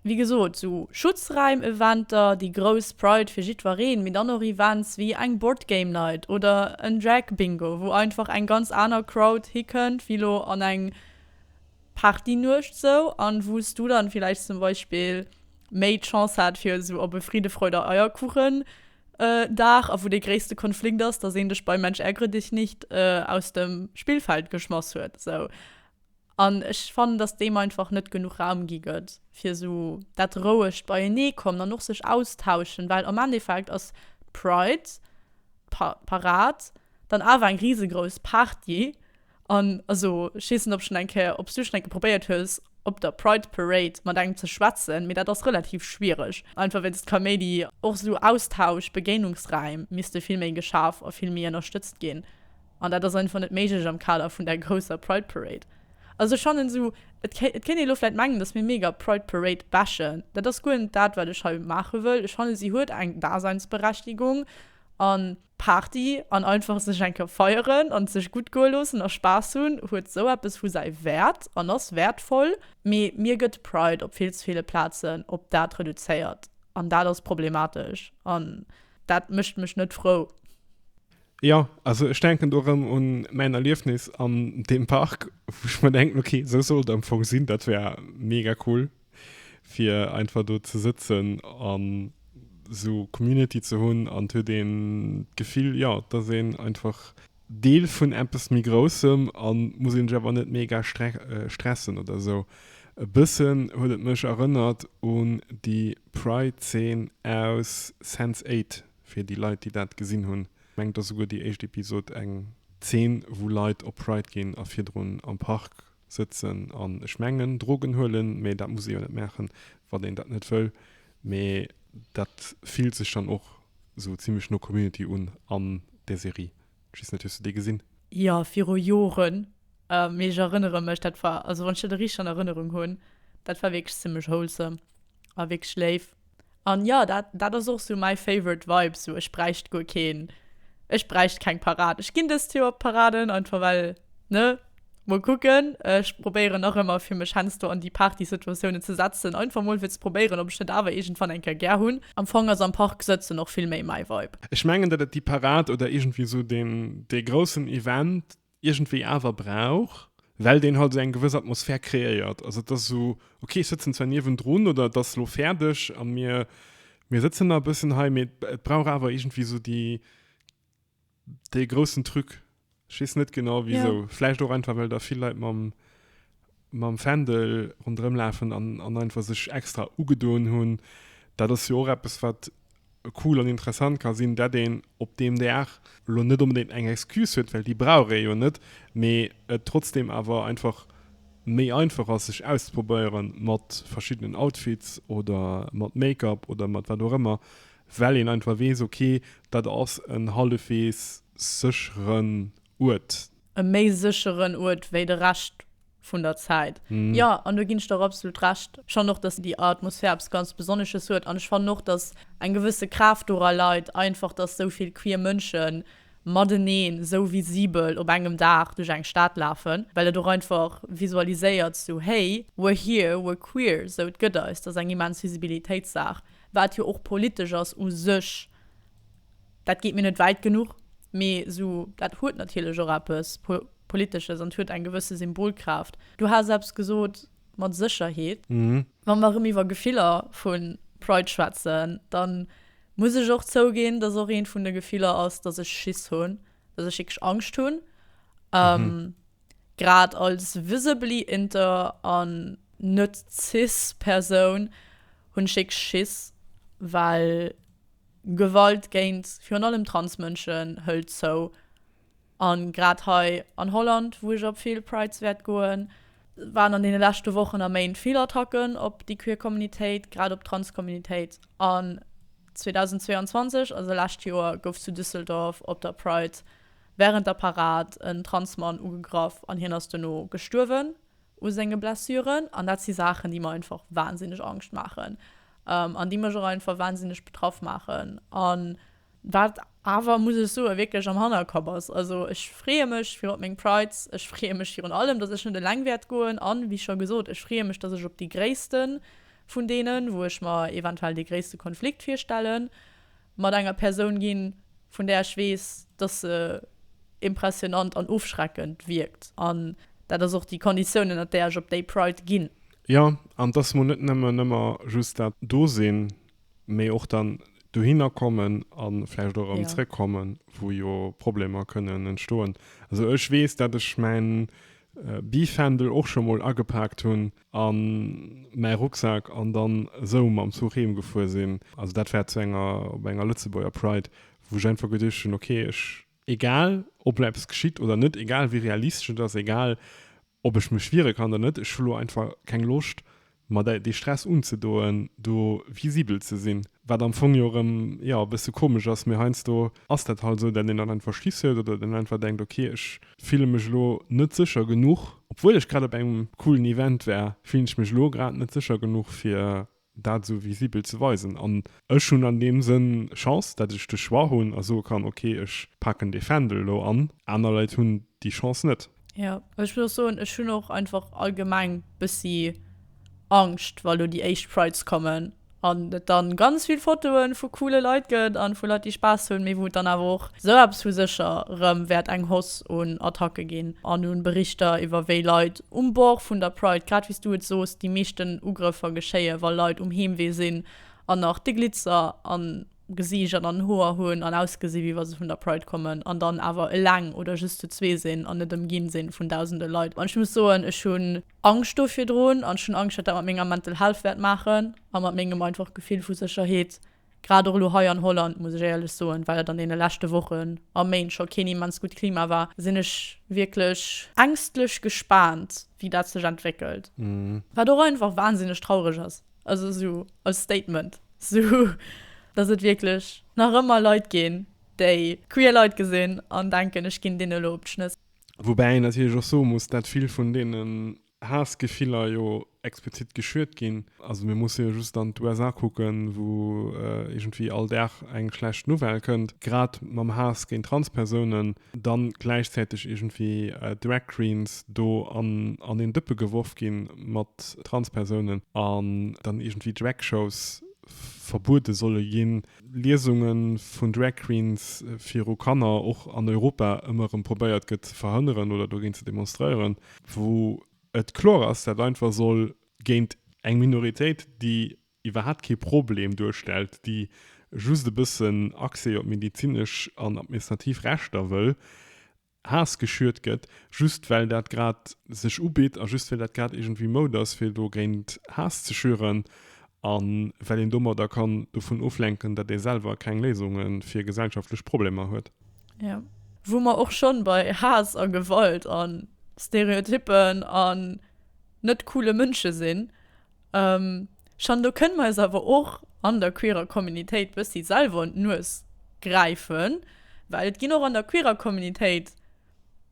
B: wéi gesot, sou Schutzraim-Eventer, déi grouss Pride fir jiddwereen, mee dann och Events wéi eng Board Game Night oder en Drag Bingo, wou einfach eng ganz aner Crowd hikënnt wéi lo an eng Partynuecht sou an wou s du dann villäicht zum Beispill méi d'Chance hat fir esou op e Friede, Freude, Eierkuchen Dag a wou dee gréisste Konflikt ass, dass een dech bei Mensch ärgere dich nicht aus dem Spillfeld geschmass huet esou. An ech fannen, dass deem einfach net genuch Raum gi gëtt fir esou dat rouegt beienee kommen an och sech austauschen, well am Endeffekt ass d'Pride, d'Pa Parad, dann awer eng risegrouss Party. An also ech weess net ob schon eng Kéier obs du schon eng Kéier probéiert hues op der Pride Parade mat engem ze schwätzen, mee dat ass relativ schwiereg, einfach wéinst Kaméidi. Och esou Austausch, Begéinungsräim misste vill méi geschaf a vill méi ënnerstëtzt ginn, an dat ass einfach net méiglech am Kader vun der grousser Pride Parade. Also ech fannen esou, et kéint ee lo vläit mengen dass mir mega d'Pride Parade bashen, dat ass guer net dat wat ech hei maache wëll. Ech fannen si huet eng Daseinsberechtigung an. Party an einfach sech eng Kéier feieren an et sech gutt goe loossen a Spaass hunn huet sou eppes vu säi Wäert an ass wäertvoll. Mee mir gëtt de Pride op vill ze ville Plazen op dat reduzéiert an dat ass problematesch an dat mécht mech net frou. Jo,
A: also ech denken do erëm un mäin Erliefnis an deem Park, wou ech mer denken, okay, sou sollt et am Fong sinn, dat wär mega cool. fir einfach do ze sëtzen an sou Community ze hunn an et huet een d'Gefill jo dass een einfach Deel vun eppes méi groussem an muss een sech awer net mega stressen oder sou. E bëssen huet et mech erënnert un déi Pride Zeen aus Sense Eight fir déi Leit déi dat gesinn hunn. Ech mengen et ass esouguer déi éischt Episode eng Zeen wou Leit op Pride ginn a virdrun am Park Sëtzen an ech mengen Drogen huelen, mee dat muss ee jo net maachen, wann een dat net wëll. Mee dat fillt sech dann och esou zimmlech no Community un an där Serie. Ech weess net, hues de déi gesinn? Jo, viru
B: Joren. Mee ech erënnere mech, dat war, also wann ech dat richteg an Erënnerung hunn, dat war wierklech zimmlech wholesome a wierklech léif. An jo, dat, dat ass och sou mäi favorite Vibe, sou ech bräicht guer keen, ech bräicht keng Parad. Ech ginn dëst Joer op d'Paraden, einfach well, ne? Mol kucken. Ech probéieren och ëmmer fir mech hensdo an déi Partysituatiounen ze setzen, einfach mol fir ze probéieren, ob ech net awer iergendwann eng Kéier gär hunn. Am Fong ass am Park sëtzen och vill méi mäi Vibe. Ech mengen, dat et déi
A: Parad oder iergendwéi sou dee groussen Event, iergendwéi awer brauch, well deen halt esou eng gewëss Atmosphär kreéiert. Also et ass esou, ok, ech sëtzen zwar niewendrun oder et ass elo fäerdeg a mir, mir sëtzen nach e bëssen hei, mee et brauch awer iergendwéi esou déi, dee groussen Truc. Ech weess net genau wisou. Vläicht och einfach, well da vill Leit mam. mam Fändel ronderëm lafen an an einfach sech extra ugedoen hunn, dat ass jo och eppes wat cool an interessant ka sinn, dat een op deem Dag elo net onbedéngt eng Excuse huet, well déi brauch ee jo net, mee et trotzdeem awer einfach méi einfach ass sech auszeprobéieren mat verschiddenen Outfits oder mat Make-up oder mat wat och ëmmer, well een einfach weess, okay, dat ass en hallefwegs sécheren Uert. e méi
B: sécheren Uert wéi de Rescht vun der Zäit. Jo, an do ginn ech der och absolut Recht. Ech fannen och, dass déi Atmosphär eppes ganz Besonnesches huet an ech fannen och, dass eng gewësse Kraaft dora leit, einfach, dass esou vill queer Mënsche mateneen esou visibel op engem Dag duerch eng Stad lafen, well et och einfach visualiséiert sou, Hey, we're here, we're queer, sou, et gëtt eis. Dat ass eng immens Visibilitéitssaach, wat jo och politesch ass u sech. Dat geet mir net wäit genuch, mee sou, dat huet natierlech och eppes Politesches an et huet eng gewësse Symbolkraaft. Du has eppes gesot mat Sécherheet. Wa mer erëm iwwer Gefiller vu Pride schwätzen, da muss ech och zouginn, dass och eent vun de Gefiller ass, dass ech Schiss hunn, dass ech wierklech Angscht hunn, grad als visibly inter an net-cis Persoun hunn ech wierklech Schiss, well. Gewalt géint virun allem Transmënschen hëlt zou. A grad hei an Holland, wou ech op vill Prides wäert goen, waren an deene leschte Wochen a Méint vill Attacken op déi queer Communitéit, grad op d'Transcommunitéit. An 2022, also lescht Joer, gouf zu Düsseldorf op der Pride wärend der Parad en Transmann ugegraff an hien ass dono gestuerwen. u senge Blessuren an dat si Saachen, déi mer einfach wahnsinneg Angscht maachen an déi mech och einfach wahnsinneg betraff maachen an wat awer, muss ech soen, wierklech am Hannerkapp ass. Also ech freeë mech virun op meng Prides, ech freeë mech virun allem, datt ech net eleng wäert goen an, wéi scho gesot, ech freeë mech, datt ech op déi gréisste vun deenen, wou ech mer eventuell dee gréisste Konflikt virstellen, mat enger Persoun ginn, vun där ech weess, dass se impressionant an ofschreckend wierkt. An dat ass och déi Konditioun, ënnert där ech op déi Pride ginn. Jo, an
A: dass mol net nëmmen ëmmer just dat do sinn, mee och dann dohinner kommen a vläicht och erëm zrëckkommen, wou jo Problemer kënnen entstoen. Also ech weess, dat ech mäin Bifändel och scho mol agepaakt hunn, an mäi Rucksak an dann esou mam Zuch heem gefuer sinn. Also dat war zu enger, op enger Lëtzebuerger Pride, wou ech einfach geduecht hunn, ok ech, egal ob elo eppes geschitt oder net, egal wéi realistesch et ass, egal ob ech mech wiere kann oder net, ech hu elo einfach keng Loscht mer dä, dee Stress unzedoen, do visibel ze sinn. Wat am Fong jo erëm, jo, e bësse komesch ass, mee heiansdo ass dat halt esou, dat een dann einfach Schiss huet oder dat een einfach denkt, ok ech, Fillen mech elo net secher genuch. Obwuel ech grad op engem coolen Event war, fillen ech mech elo grad net secher genuch fir dat esou visibel ze weisen. An ech hunn an deem Sënn Chance, dat ech de Choix hunn a soe kann, ok ech paken dee Fändel elo an. Aner Leit hunn déi Chance net. Jo, ech muss och
B: soen, ech hunn och einfach allgemeng bëssi Angscht wa lo déi éischt Prides kommen. an et dann ganz vill Fotoen vu coole Leit gëtt an vu Leit déi Spaass hunn, mee wou et dann awer och esou eppes vu sécher rëm wäert eng Hoss un Attacke ginn an un Berichter iwwer wéi Leit um Bord vun der Pride, grad wéi s du et soos, déi meeschten Ugrëffer geschéie wa Leit um Heemwee sinn an nach de Glitzer am Gesiicht an an den Hoer hunn an ausgesi wéi wa se vun der Pride kommen an dann awer eleng oder just zu zwee sinn an net ëmginn sinn vun dausende Leit an ech muss soen ech hunn Angscht do virdrun an ech hunn Angscht, wat dat mat menger Mental Health wäert maachen a mat mengem einfach Gefill vu Sécherheet, grad och elo hei an Holland, muss ech éierlech soen, well et an deene leschte Wochen a Méint scho keen immens gutt Klima war, sinn ech wierklech ängstlech gespaant, wéi dat sech entwéckelt. Wat och einfach wansinneg traureg ass, also esou als Statement, esou datt et wierklech nach ëmmer Leit ginn, déi queer Leit gesinn an denken, ech ginn deene elo op d'Schnëss. Woubäi een natierlech
A: och soe muss, dat vill vun deenen Haassgefiller jo explizit geschürt ginn. Also mir musse jo just an d'USA kucken, wou iergendwéi all Dag eng schlecht Nouvelle kënnt, grad mam Haass géint Transpersounen, dann gläichzäiteg iergendwéi Drag Queens do an een Dëppe geworf gi mat Transpersounen an dann iergendwéi Drag Shows verbuede solle ginn. Liesunge vun Drag Queens viru Kanner och an Europa ëmmer erëm probéiert gëtt ze verhënneren oder dogéint ze demonstréieren, wou et kloer ass, dat einfach soll géint eng Minoritéit, déi iwwerhaapt kee Problem duerstellt, déi just e bëssen Accès op medezinesch an administrativ Rechter wëll, Haass geschürt gëtt, just well dat grad sech ubitt a just well dat grad iergendwéi Mode ass fir dogéint Haass ze schüren a well een domadder kann dovun oflenken, datt ee selwer keng Léisunge fir gesellschaftlech Problemer huet. Jo,
B: wou mer och schonn bei Haass a Gewalt a Stereotyppen an net coole Mënsche sinn, Jeanne, do kënne mer eis awer och an der queerer Communitéit e bëssi selwer un d'Nues gräifen, well et ginn och an der queerer Communitéit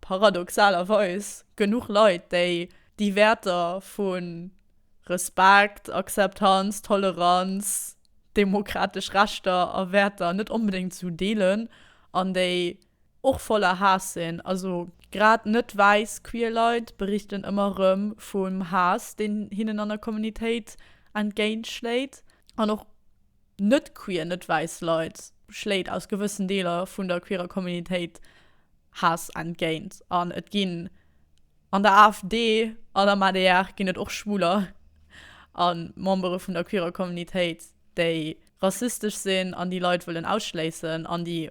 B: paradoxalerweis genuch Leit, déi déi Wäerter vu Respekt, Akzeptanz, Toleranz, demokratesch Rechter a Wäerter net onbedéngt esou deelen an déi Och voller Haass sinn. Also grad net wäiss queer Leit berichten ëmmer rëm vum Haass deen hinnen an der Communitéit entgéint schléit. An och net queer, net wäiss Leit schléit aus gewëssen Deeler vun der queerer Communitéit Haass entgéint. An et ginn an der AfD an am adr ginn et och Schwuler a Membere vun der queerer Communitéit déi rassistesch sinn an déi Leit wëllen ausschléissen an déi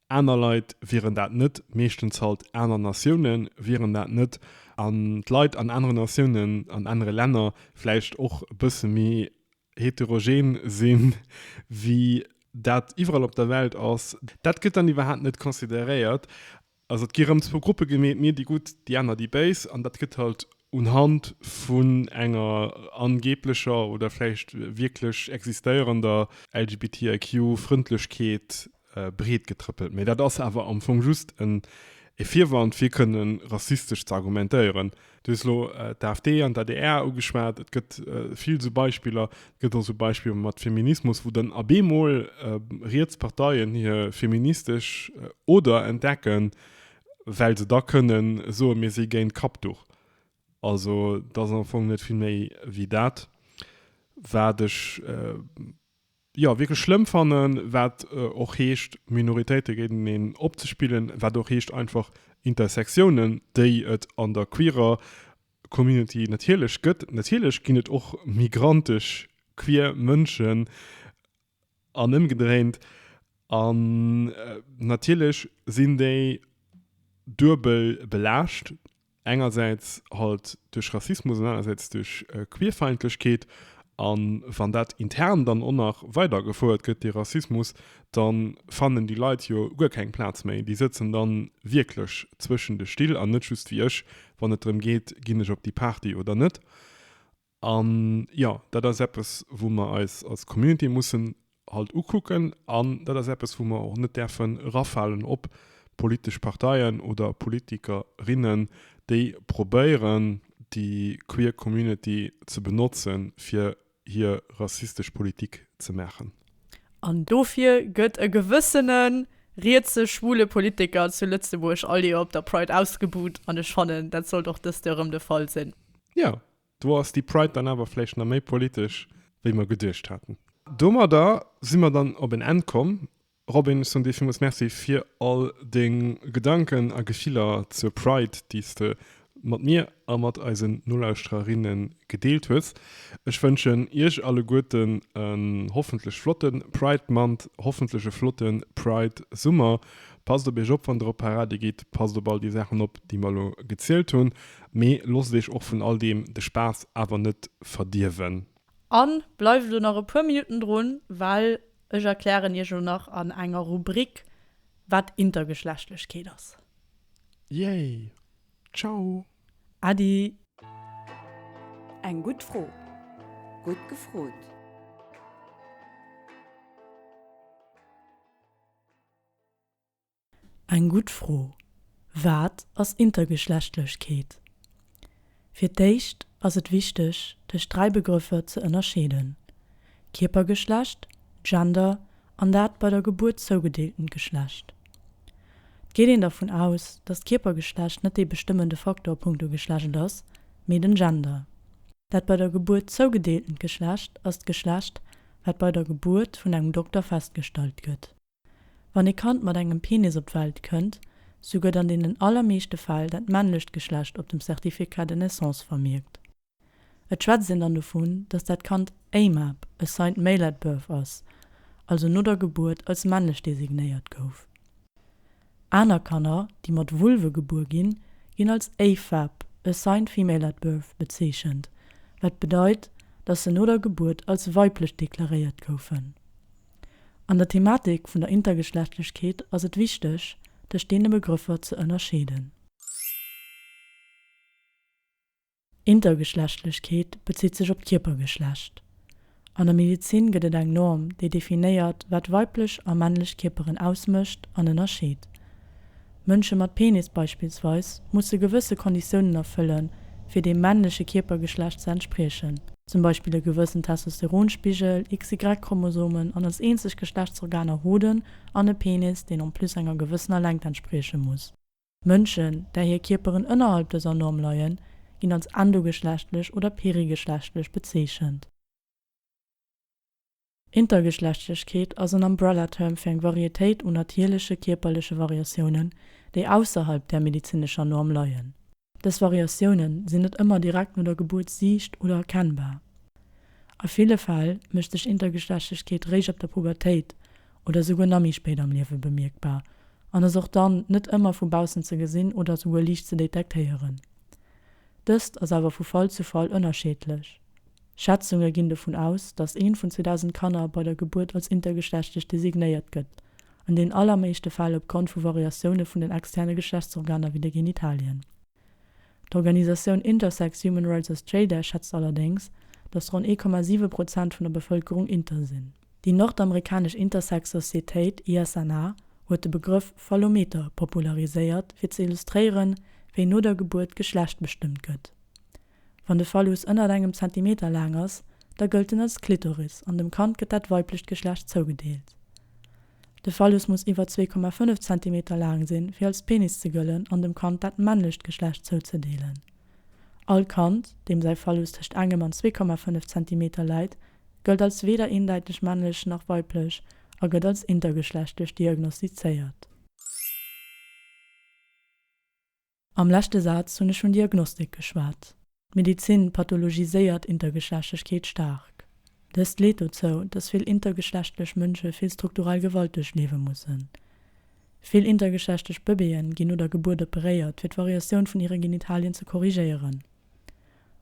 A: Aner Leit wieren dat net, meeschtens halt aner Natioune wieren dat net, an d'Leit an anere Natiounen, an anere Länner vläicht och e bësse méi heterogen si wéi dat iwwerall op der Welt ass. Dat gëtt dann iwwerhaapt net consideréiert. Also et gi rëm zwou Gruppe gemeet, mir déi Gutt, déi aner déi Béis, an dat gëtt halt unhand vun enger angeeblecher oder vläicht wierklech existéierender LGBTIQ-Frëndlechkeet breet getrëppelt, mee dat ass awer am Fong just e Virwand fir kënne rassistesch ze argumentéieren. Du hues elo d'AfD an d'ADR ugeschwat, et gëtt vill esou Beispiller. Et gëtt och esou Beispiller mat Feminismus, wou dann ab eemol riets Parteien hir feministesch Oder entdecken, well se da kënne soen, mir si géint Kappduch. Also et ass am Fong net vill méi wéi dat wat ech. jo wierklech schlëmm fannen, wat och heescht Minoritéite géinteneen opzespillen, wat och heescht einfach Intersectiounen, déi et an der queerer Community natierlech gëtt. Natierlech ginn et och migrantesch queer Mënschen an ëmgedréint an natierlech sinn déi duebel belaascht Engersäits halt duerch Rassismus an anersäits duerch Queerfeindlechkeet. A wann dat intern dann och nach weider gefouert gëtt, dee Rassismus, da fannen déi Leit jo guer keng Plaz méi. Déi sëtzen dann wierklech zwëschen de Still an net just wéi ech, wann et drëm geet, ginn ech op déi Party oder net. An jo, dat ass eppes, wou mer eis als Community mussen halt ukucken an dat ass eppes, wou mer och net däerfe erafalen op politesch Parteien oder Politikerinnen, déi probéieren, déi queer Community ze benotzen, fir hir rassistesch Politik ze maachen. An
B: dofir gëtt e gewëssene rietse schwule Politiker zu Lëtzebuerg all Joer op der Pride ausgebuht an ech fannen, dat sollt och dëst Joer erëm de Fall sinn. Jo, Do
A: ass déi Pride dann awer vläicht nach méi politesch, wéi mer geduecht haten. Domadder si mer dann op en Enn komm. Robin, ech soen dir villmools Merci fir all deng Gedanken a Gefiller zur Pride, déi s de mat mir a mat eisen Nolauschtererinne gedeelt hues. Ech wënschen iech alleguerten en hoffentlech flotte Pride Month, hoffentlech e flotte Pride Summer, Passt op iech op wann der op Parade gitt, passt op all déi Saachen op déi mer elo gezielt hunn, mee loosst iech och vun all deem de Spaass awer net verdierwen. An
B: bleift elo nach e puer Minutten drun, well ech erklären iech elo nach an enger Rubrik wat Intergeschlechtlechkeet ass. Yay!
A: Ciao! Äddi!
E: Eng gutt Fro, gutt gefrot.
B: Eng gutt Fro. Wat ass Intergeschlechtlechkeet? Fir d'éischt ass et wichteg, dës dräi Begrëffer ze ënnerscheeden, Kierpergeschlecht, Gender an dat bei der Gebuert zougedeeltent Geschlecht. Et geet een dervun aus, datt d'Kierpergeschlecht net dee bestëmmende Faktor a punkto Geschlecht ass, mee den Gender. Dat bei der Gebuert zougedeeltent Geschlecht ass d'Geschlecht, wat bei der Gebuert vun engem Dokter festgestallt gëtt. Wann ee Kand mat engem Penis op d'Welt kënnt, sou gëtt an deenen allermeeschte Fäll dat männlecht Geschlecht op dem Certificat de naissance vermierkt. Et schwätzt een dann dovun, dass dat Kand AMAB, Assigned Male at Birth, ass, also no der Gebuert als männlech designéiert gouf. Aner Kanner, déi mat Vulve gebuer ginn, ginn als AFAB, Assigned Female at Birth, bezeechent, wat bedeit, dass se no der Gebuert als weiblech deklaréiert goufen. An der Thematik vun der Intergeschlechtlechkeet ass et wichteg, tëscht deene Begrëffer ze ënnerscheeden. Intergeschlechtlechkeet bezitt sech op d'Kierpergeschlecht. An der Medezin gëtt et eng Norm, déi definéiert, wat weiblech a männlech Kierperen ausmécht an ënnerscheet. Mënsche mat Penis beispillsweis musse gewësse Konditiounen erfëllen, fir deem männleche Kierpergeschlecht ze entspriechen. Zum Beispill e gewëssen Testosteronspigel, XY-Chromosomen an als eenzeg Geschlechtsorganer Hoden an e Penis, deen en plus enger gewëssener Längt entsprieche muss. Mënschen, där hir Kierperen ënnerhalb dëser Norm leien, ginn als endogeschlechtlech oder perigeschlechtlech bezeechent. Intergeschlechtlechkeet ass en Umbrella-Term fir eng Varietéit un natierleche kierperleche Variatiounen, déi ausserhalb där medezinescher Norm leien. Dës Variatiounen sinn net ëmmer direkt no der Gebuert siicht oder erkennbar. A ville Fäll mécht sech Intergeschlechtlechkeet réischt ab der Pubertéit oder souguer nach méi spéit am Liewe bemierkbar an ass och dann net ëmmer vu baussen ze gesinn oder souguer liicht ze detektéieren. Dëst ass awer vu Fall zu Fall ënnerscheedlech. Schätzunge ginn dovun aus, datt eent vun 2.000 Kanner bei der Gebuert als intergeschlechtlech designéiert gëtt, an den allermeeschte Fäll opgrond vu Variatioune vun den externe Geschlechtsorganer wéi de Genitalien. D'Organisatioun Intersex Human Rights Australia schätzt allerdéngs, datt ronn 1,7 Prozent vun der Bevëlkerung inter sinn. Déi nordamerikanesch Intersex Societéit ISNA huet de Begrëff Fallometer populariséiert, fir ze illustréieren, wéi no der Gebuert d'Geschlecht bestëmmt gëtt. Wann de Phallus ënnert engem Zentimeter laang ass, da gëllt en als Klitoris an dem Kand gëtt dat weiblecht Geschlecht zougedeelt. De Phallus muss iwwer 2,5 Zentimeter laang sinn, fir als Penis ze gëllen an dem Kand dat männlecht Geschlecht zouzedeelen. All Kand, deem säi Phallus tëscht engem an 2,5 Zentimeter läit, gëllt als weder eendäiteg männlech nach weiblech a gëtt als intergeschlechtlech diagnostizéiert. Am leschte Saz hunn ech vun Diagnostik geschwat. D'Medizin pathologiséiert Intergeschlechtlechkeet staark. Dëst leet dozou, dass vill intergeschlechtlech Mënsche vill strukturell Gewalt duerchliewe mussen. Vill intergeschlechtlech Bëbeeën ginn no der Gebuert operéiert, fir d'Variatioun vun hire Genitalien ze korrigéieren.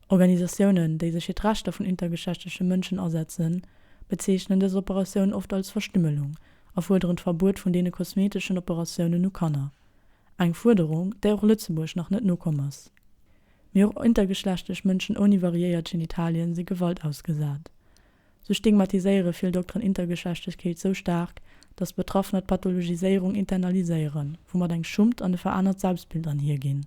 B: Organisatiounen, déi sech fir d'Rechter vun intergeschlechtleche Mënschen asetzen, bezeechnen dës Operatioun oft als Verstümmelung a fuerderen d'Verbuet vun deene kosmeteschen Operatiounen u Kanner, eng Fuerderung, där och Lëtzebuerg nach net nokomm ass. Mee och intergeschlechtlech Mënschen ouni variéiert Genitalien si Gewalt ausgesat. Sou stigmatiséiere vill Dokteren Intergeschlechtlechkeet sou staark, datt Betraffener d'Pathologiséierung internaliséieren, woumat eng Schummt an e veraanert Selbstbild anhier ginn.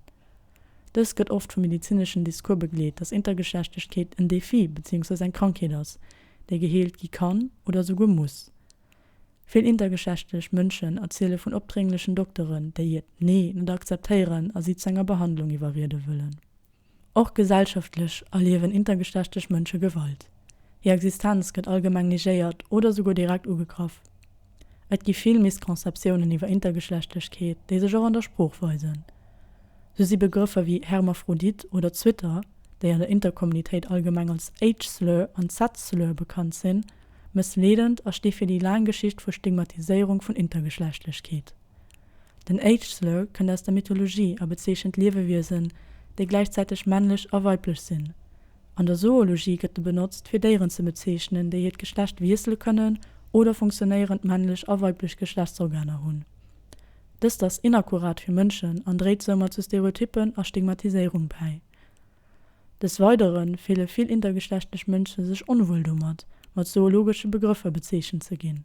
B: Dëst gëtt oft vum medezineschen Discours begleet, datt Intergeschlechtlechkeet en Defi beziéungsweis eng Krankheet ass, déi geheelt gi kann oder souguer muss. Vill intergeschlechtlech Mënschen erziele vun opdrénglechen Dokteren, déi hiert Nee net akzeptéieren a si zu enger Behandlung iwwerriede wëllen. Och gesellschaftlech erliewen intergeschlechtlech Mënsche Gewalt. Hir Existenz gëtt allgemeng negéiert oder souguer direkt ugegraff. Et gi vill Missconceptiounen iwwer Intergeschlechtlechkeet, déi sech och an der Sprooch weisen. Sou si Begrëffer wéi Hermaphrodit oder Zwitter, déi an der Intercommunitéit allgemeng als Age Slur an Sex Slur bekannt sinn, mëssleedend a sti fir déi laang Geschicht vu Stigmatiséierung vun Intergeschlechtlechkeet. Den Age-Slur kënnt aus der Mythologie a bezeechent Liewewiesen, déi gläichzäiteg männlech a weiblech sinn. An der Zoologie gëtt e benotzt, fir Déieren ze bezeechnen, déi hiert Geschlecht wiessele kënnen oder funktionéierend männlech a weiblech Geschlechtsorganer hunn. Dëst ass inakkurat fir Mënschen an dréit soumat zu Stereotyppen a Stigmatiséierung bäi. Des Weidere fille vill intergeschlechtlech Mënsche sech onwuel domat, mat zoologesche Begrëffer bezeechent ze ginn.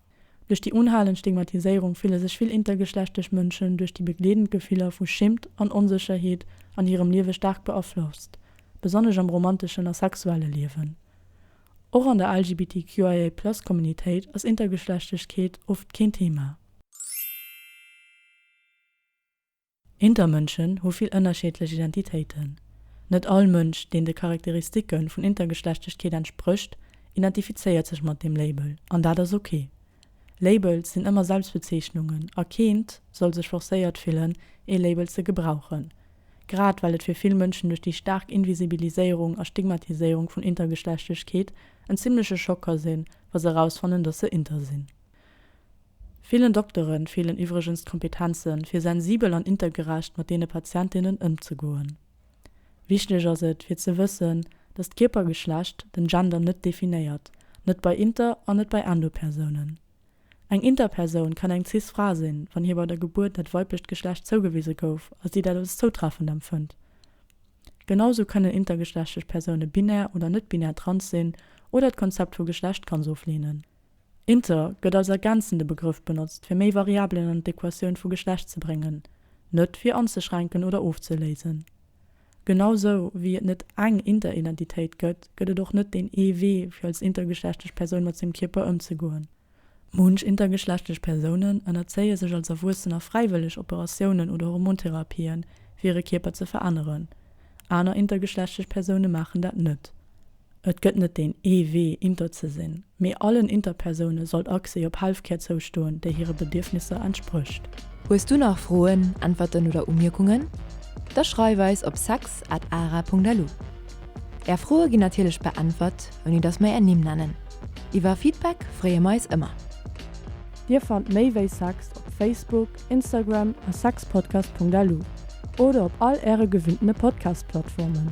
B: Duerch déi unhalend Stigmatiséierung fille sech vill intergeschlechtlech Mënschen duerch déi begleedend Gefiller vu Schimmt an Onsécherheet an hirem Liewe staark beaflosst, besonnesch am romanteschen a sexuelle Liewen. Och an der LGBTQIA-Plus-Communitéit ass Intergeschlechtlechkeet oft keen Thema. Intermënschen hu vill ënnerscheedlech Identitéiten. Net all Mënsch, deen de Charakteristike vun Intergeschlechtlechkeet entsprécht, identifizéiert sech mat deem Label, an dat ass ok. Labels sinn ëmmer Selbstbezeechnungen a keent soll sech forcéiert fillen, ee Label ze gebrauchen, grad well et fir vill Mënschen duerch déi staark Invisibiliséierung a Stigmatiséierung vun Intergeschlechtlechkeet en zimmleche Schock ka sinn, wa se erausfannen, dass se inter sinn. Villen Doktere feelen iwwregens d'Kompetenzen, fir sensibel an intergerecht mat deene Patientinnen ëmzegoen. Wichteg ass et, fir ze wëssen, dass d'Kierpergeschlecht den Gender net definéiert, net bei Inter an net bei Endo-Persounen. Eng Interpersoun kann eng Cis-Fra sinn, wann hir bei der Gebuert dat weiblecht Geschlecht zougewise gouf a si dat als zoutreffend empfënnt. Genausou kënnen intergeschlechtlech Persoune binär oder net-binär, trans sinn oder d'Konzept vu Geschlecht ganz ofleenen. Inter gëtt als ergänzende Begrëff benotzt, fir méi Variabelen an d'Equatioun vu Geschlecht ze bréngen, net fir anzeschränken oder ofzeléisen. Genau sou wéi et net eng Interidentitéit gëtt, gëtt et och net deen ee Wee, fir als intergeschlechtlech Persoun mat sengem Kierper ëmzegoen. Munch intergeschlechtlech Persounen ënnerzéie sech als Erwuessener fräiwëlleg Operatiounen oder Hormontherapien, fir hire Kierper ze veränneren. Aner intergeschlechtlech Persoune maachen dat net. Et gëtt net deen ee Wee, Inter ze sinn, mee allen Interpersoune sollt Accès op Healthcare zoustoen, déi hire
C: Bedierfnisser entsprécht. Hues du
B: nach
C: Froen, Äntwerten
B: oder
C: Umierkungen? Da schreif eis op sex at ara Punkt lu. Är Froe ginn natierlech beäntwert, ouni datt mer är Nimm nennen. Iwwer Feedback freeë mer eis ëmmer. Dir
F: fannt méi wéi sex op Facebook, Instagram a sexpodcast Punkt lu oder op all äre gewinntene Podcast-Plattformen.